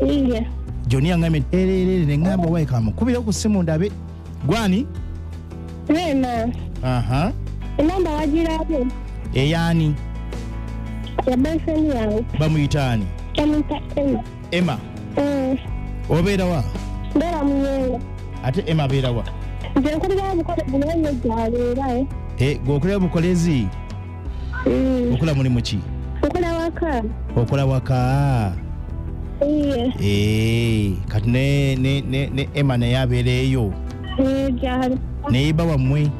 Iye. joni yaŋambye nti ererere ne ŋŋamba wayi kamukubire ku ssimu ndabe gwani Rema. aha Enamba wagirabye? eyaani Ya boyfriend yange. bamuyita ani Bamuyita Emma. emma Mm. obeera wa Ndaba muyenga. ate emma abeera wa Nze nkulira obukola bunene gyabeera. eh. Eh, gwe okulera bukolezi Mm. okola mulimu ki Okola waka. okola waka Iye. Eh, kati ne, ne, ne, ne ema naye abeera eyo Eh, jali. naye ba wammwe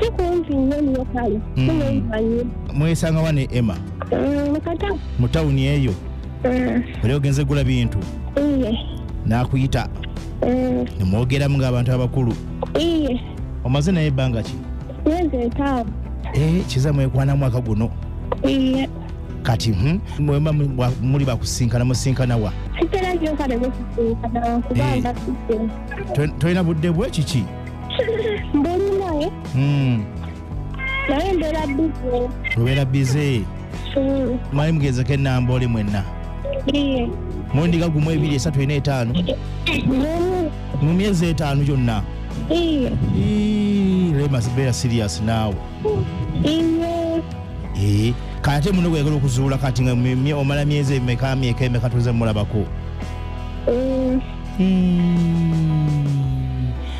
Si kumpi nnyo nnyo kale. Mm. Si mwemanyi. mwesanga wa ne ema Mm, Mukata. mu tawuni eyo Mm. oli ogenze gula bintu Iye. n'akuyita Mm. ne mwogeramu ng'abantu abakulu Iye. omaze naye ebbanga ki myezi etaano eh, kiza mwekwana mwaka guno iye kati hmm, mwemba mu- muli bakusinkana musinkana wa sitera nyo kale bwesisinkana kubanga Eh. sitera To- tolina budde bwe kiki mbuli naye Hmm. naye mbeera bize obeera bize Mm, mwali mugezeko enamba oli mwenna iye mundiga gumu ebiri esatu ena etaano nomu mu myezi etaano gyonna iye Ii, rema beera serious naawe iye Ee, kati ate muno gwegala okuzuula kati nga mye- mye- omala myezi emeka myeka emeka tuze mulabako Mm,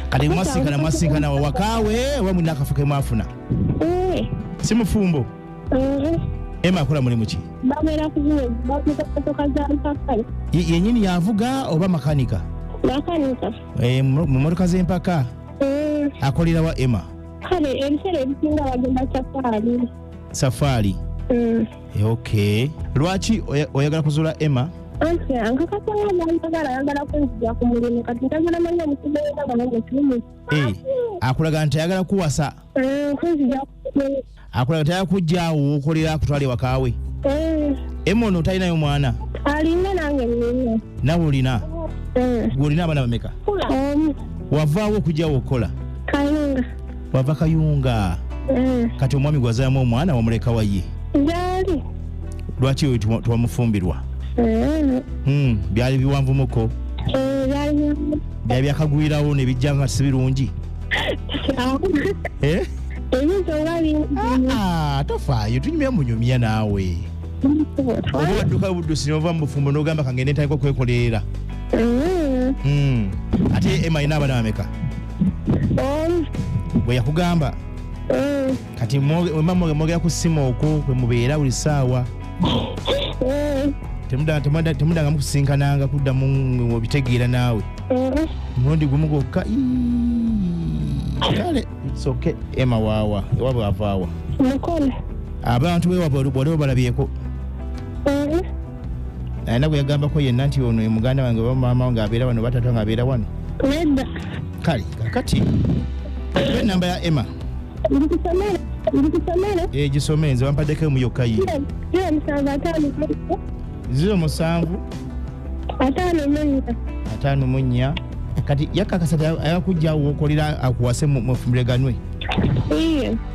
kale mwasinkana mwasinkana wawakaawe oba mulina akafo ke mwafuna eh. si mufumbo eh. ema akola mulimu ki yenyini yavuga oba makanika eh, mu motoka z'empaka akolera wa ema kale ebiseera ebisinga bagenda safaali safaali Eh, okay lwaki oya- oyagala kuzuula emma Okay, ankakasa nga nayagala ayagala kunzija ku mulimu kati njagala manya omusibe w'endaba nange kirimi Eh, akulaga nti ayagala kuwasa Eh, kunzija ku akulaga nti ayagala kujjaawo wokolera akutwala ewaka we Eh, emma ono talinayo mwana alinga nange nina nawe olina Eh, gwe olina abaana bameka omu wavaawo okujjawo okukola kayunga wava kayunga Mm. kati omwami gwazaamu omwana wamuleka wayi Gyali. lwaki oyo tewa- tewamufumbirwa Mm. Hmm, byali biwanvumuko Eh, gyali. byali byakagwirawo nebijja nga si birungi Awo. Eh? Ebintu oba bingi. Ah, tofaayo tunyumya munyumya naawe oba wadduka buddusi nova mu bufumbo nogamba kangende ntandika okwekolerera Mm. Hmm, ate ema ina abana bameka Eh, bwe yakugamba eh, kati mwoge- wemba mwoge- mwogera ku ssimu okwo kwe mubeera buli ssaawa eh, Temuda- temuda- temudangamu kusinkananga kuddamu nga obitegeera naawe eh. mulundi gumu gwokka ii, kale soke ema waawa ewabwe avaawa Mukole. abantu bewabwe waliwo balabyeko Eh, alina gwe yagambako yenna nti ono muganda wange oba maama wange abeera wano batata nga abeera wano nedda kale kakati oba enamba ya emma ndikusomere ndikusomere egisome eh, nze wampaddeko emu yokka ye ziro musanvu ataano ziro musanvu ataano munya ataano munya kati yakakasa ayakujja wokolera akuwase mufumbireganwe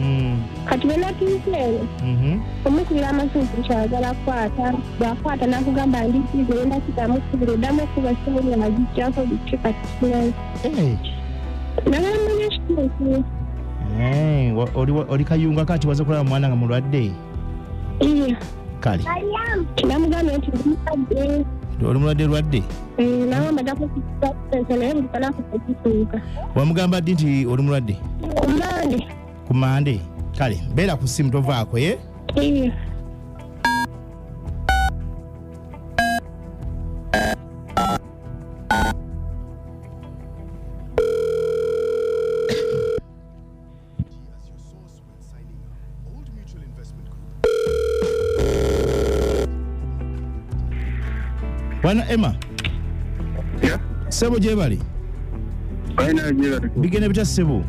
Mm. kati bwe natuuka eno Mhm. omukubira amasimu kyagala kukwata bwakwata nakugamba ndi bizi enda kidamu kubira oddamu okuba simu yagijjako biki kati sinayo Eh. nabamanya ekituufu Eh, wa- oli wa- oli kayunga kati waze kulaba mwana nga mulwadde Iya. kale Namugambye nti ndimukadde. oli mulwadde lwadde Mm, Nawe mbadako kukusa naye buli kanaku tekituuka. wamugamba ddi nti oli mulwadde Kumande. ku mande kale beera ku simu tovaako ye Iya. Bwana Emma. Yeah. Sebo jebali. Bwana jebali. Bigene bita sebo.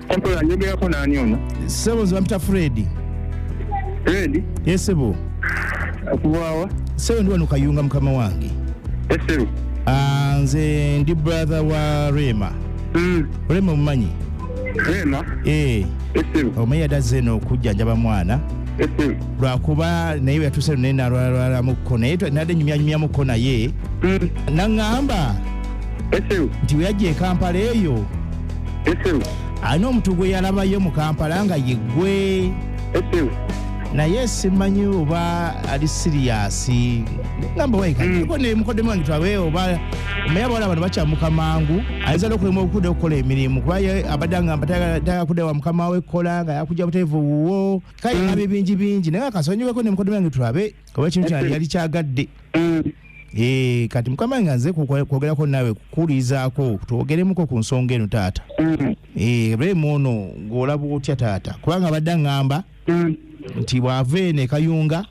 Kompo ya nyumba yako nani ono? Sebo zwa mta Freddy. Freddy? Yes sebo. Akuwawa. Sebo ndiwa nukayunga mkama wangi. Yes sebo. Ah, nze ndi brother wa Rema. Mm. Rema mumanyi. Rema. Eh. Esem. Omeya oh, daze no kujja njaba mwana. Esem. Lwa kuba na iwe atuse ne na lwa lwa lwa muko na yetu na de nyumya nyumya muko na ye. Mm. Na ngamba. Esem. Ndiwe yaje Kampala eyo. Esem. Ano mtu gwe yalaba yo mu Kampala nga yegwe. Esem. Na yes manyi oba ali serious. Ngamba weka. Mm. Ko ne muko de mwangi twawe oba. Omeya bwala bano bacha mukamangu. ayinza nokulema okuda okukola emirimu kuba abadde agamba tayagala kuda wa mukama we kukola nga yakuja buteevu wuwo kale mm. abe bingi bingi naye akasonyiweko nemukodo bange tulabe oba ekintu kyali yali kyagadde mm. eh, kati mukama nga nze kwogerako naawe kukulizaako twogeremuko ku nsonga eno taata mm. eh, remu ono ng'olaba otya taata kubanga abadde aŋŋamba nti bw'ava eno ekayunga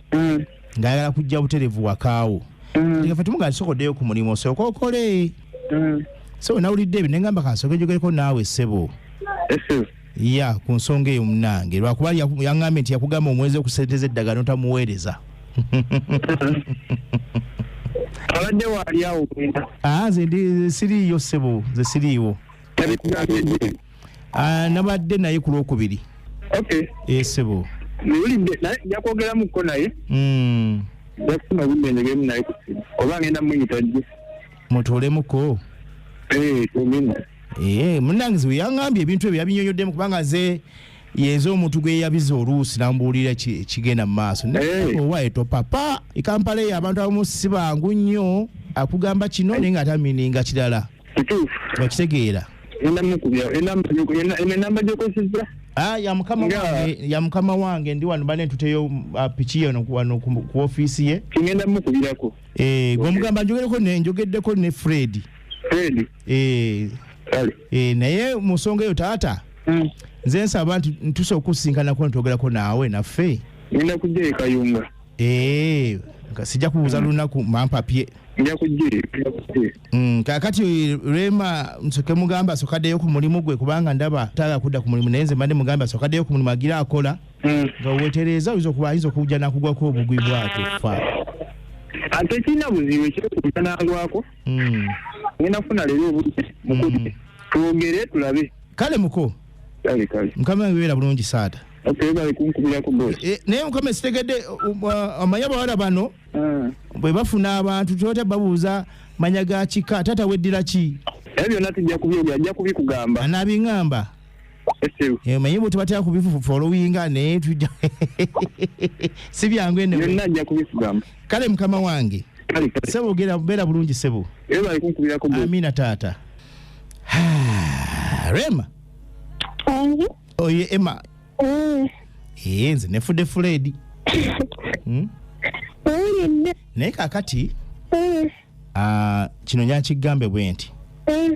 ng'ayagala kujja buterevu wakaawo mm. ngafe tumuga nsokoddeyo ku mulimu osooka okole mm. sebo nawulidde ebyo nengamba kansooka enjogereko naawe ssebo ya ku nsonga eyo munange lwakuba yaŋambye nti yakugamba omwezi okusente z'eddagala notamuweereza abadde waali awo ah, nze siriiyo ssebo nze siriiwo Ah, nabadde naye ku lwokubiri okay esebo eh, newulidde naye nja kwogeramuko naye hmm. nja kufuna obudde njogeremu naye ku simu oba ngenda muyita jje mutuulemuko eh, tugenda ee eh, munange ziwe yangambye ebintu ebyo yabinyonyoddemu kubanga nze yenze omuntu gwe yabiza oluusi nambuulira kigenda mu maaso owaeto papa ekampala eyo abantu abamu si bangu nnyo akugamba kino naye nga atamininga kirala kituufu okitegeera enamba gyokozesa ah, ya mukama wange ya mukama wange ndi wano bane ntuteyo uh, piki yono wano ku offiisi ye kigenda mukubirako eh gomugamba njogereko ne njogeddeko ne Fred Fred eh kale eh naye musonga yo tata mm. nze nsaba nti ntuse okusinkana ko ntogerako naawe naffe nina kujja kayunga eh sija kubuza mm. lunaku mampapye nja kujja Mm, kakati rema nsoke mugamba asokadeyo ku mulimu gwe kubanga ndaba taga kudda ku mulimu naye nze mbadde mugamba asokadeyo ku mulimu agira akola mm. nga wetereeza oyinza okuba ayinza okujja nakugwako obugwi bwake fa ate kirina buzibu ekyokuja nangwako mm. ngenda kufuna leero obudde mukudi mm. twogere tulabe kale muko mukama webeera bulungi saata eh, naye mukama esitegedde uh, uh, amanya bawala bano mm. bwe bafuna abantu tebata babuuza manya ga kika taata weddira ki ebyo byonna tujja kubyogera ajja kubikugamba anaabingamba eh, manye bwe tubatera kubifolowinga naye tujja si byangu enebyonna ajja kubikugamba kale mukama wange sebo ogera beera bulungi sebo amiina taata rema oye ema Eh, ee nze nefudde fuleedi Hmm? Owulira nne. naye kakati Eh, ah, kino nyakigambe bwe nti eh,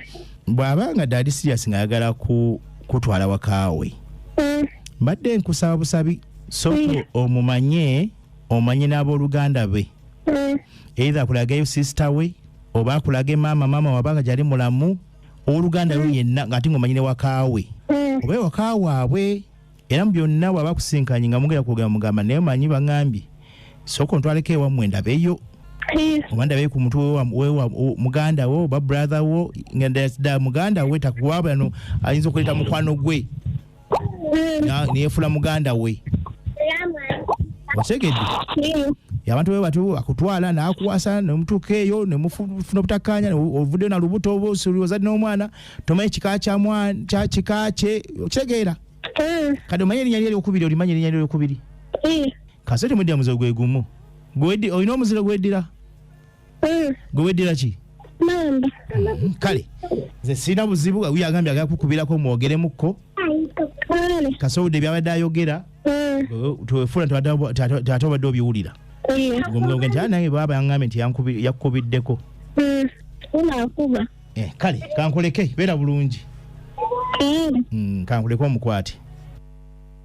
bw'aba nga daadi siriyasi ng'ayagala ku- kutwala wakaawe eh, mbadde nkusaba busabi sooka omumanye omanye n'abooluganda be eh, either akulage sisita we oba akulage maama maama wabanga gyali mulamu owoluganda lwo yenna ngaate ngaomanyi ne wakaawe mm. oba ewaka waabwe era mu byonna bwaba akusinkanye nga mugera kwogera mugamba naye manyi baŋambye sooka ontwaleko ewammwe ndabeyo oba ndabeyo ku mutwe muganda wo oba brother wo nda muganda we takuwabano ayinza okuleeta mukwano gwe neyefula muganda we otegedde abantu be batyo akutwala nakuwasa nemutuuka eyo nemufuna obutakkaanya ovuddeyo na lubuto oba ozadde n'omwana tomanyi kika kika kye okitegeera eh. kati omanyi erinya lyokubiri olimanyi erinya lyokubiri eh. kasete mudde muze gwegumu olina omuziro gweddira Mm. gwe weddira ki mamba Mm, kale nze sirina buzibu uyo agambye agala kukubirako mwogeremukko kale kasobodde byabadde ayogera Mm. gwe twefuula tata obadde obiwulira Mm. gomugambwe nti "Ah, nange baaba yangambye nti yankubi- yakukubiddeko Mm. unakuba Eh, kale kankuleke beera bulungi kale Mm, kankuleke omukwate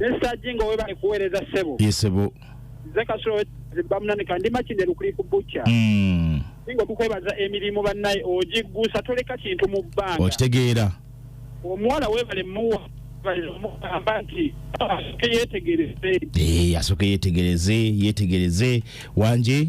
Mr. Jingo webale kuweereza sebo. Yes sebo. Nze kasolo bamunanika ndi makinde lukuli ku butcher. Mm. Jingo tukwebaza emirimu bannaye ogiggusa toleka kintu mu bbanga. Okitegeera. Omuwala webale muwa yetegereze yetegereze wanje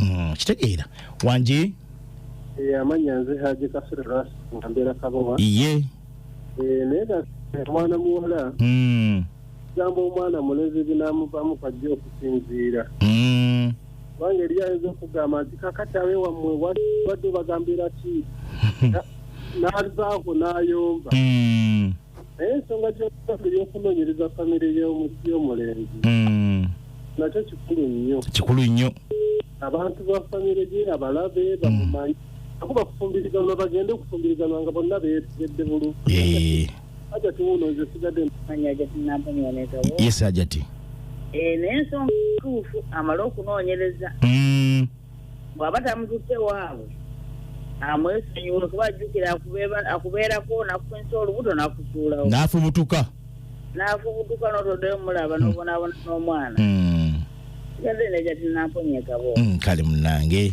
Mm, kitegeera wangi Eh, amanya nze haji kasule lwasi nga mbeera kabowa iye Eh, naye ga omwana muwala Mm, gamba omwana mulezi binamuvamu kwajja okusinziira mm. kubanga eri ayinza okugamba nti kakati abe wammwe wa- wadde obagambira ki Na- n'azaako n'ayomba Mm. naye ensonga gy'okusaga eyokunoonyereza famire y'omulenzi hmm. nakyo kikulu nnyo kikulu nnyo abantu ba famire gye abalabe hmm. bamumanyi ako bakufumbiriganwa bagende okufumbiriganwa nga bonna beetegedde bulu ajati wuno nze sigadde manya ajati nampamyonetawo yes ajati eh, naye ensonga tuufu amale okunoonyereza hmm. bw'aba tamututte waabwe amwesonyiwe kuba ajjukira akubeerako nakufunisa olubuto nakusuulawo n'afubutuka n'afubutuka n'otoddeyo mulaba hmm. n'obonaabona n'omwana hmm. kati namponyekabo hmm, kale munange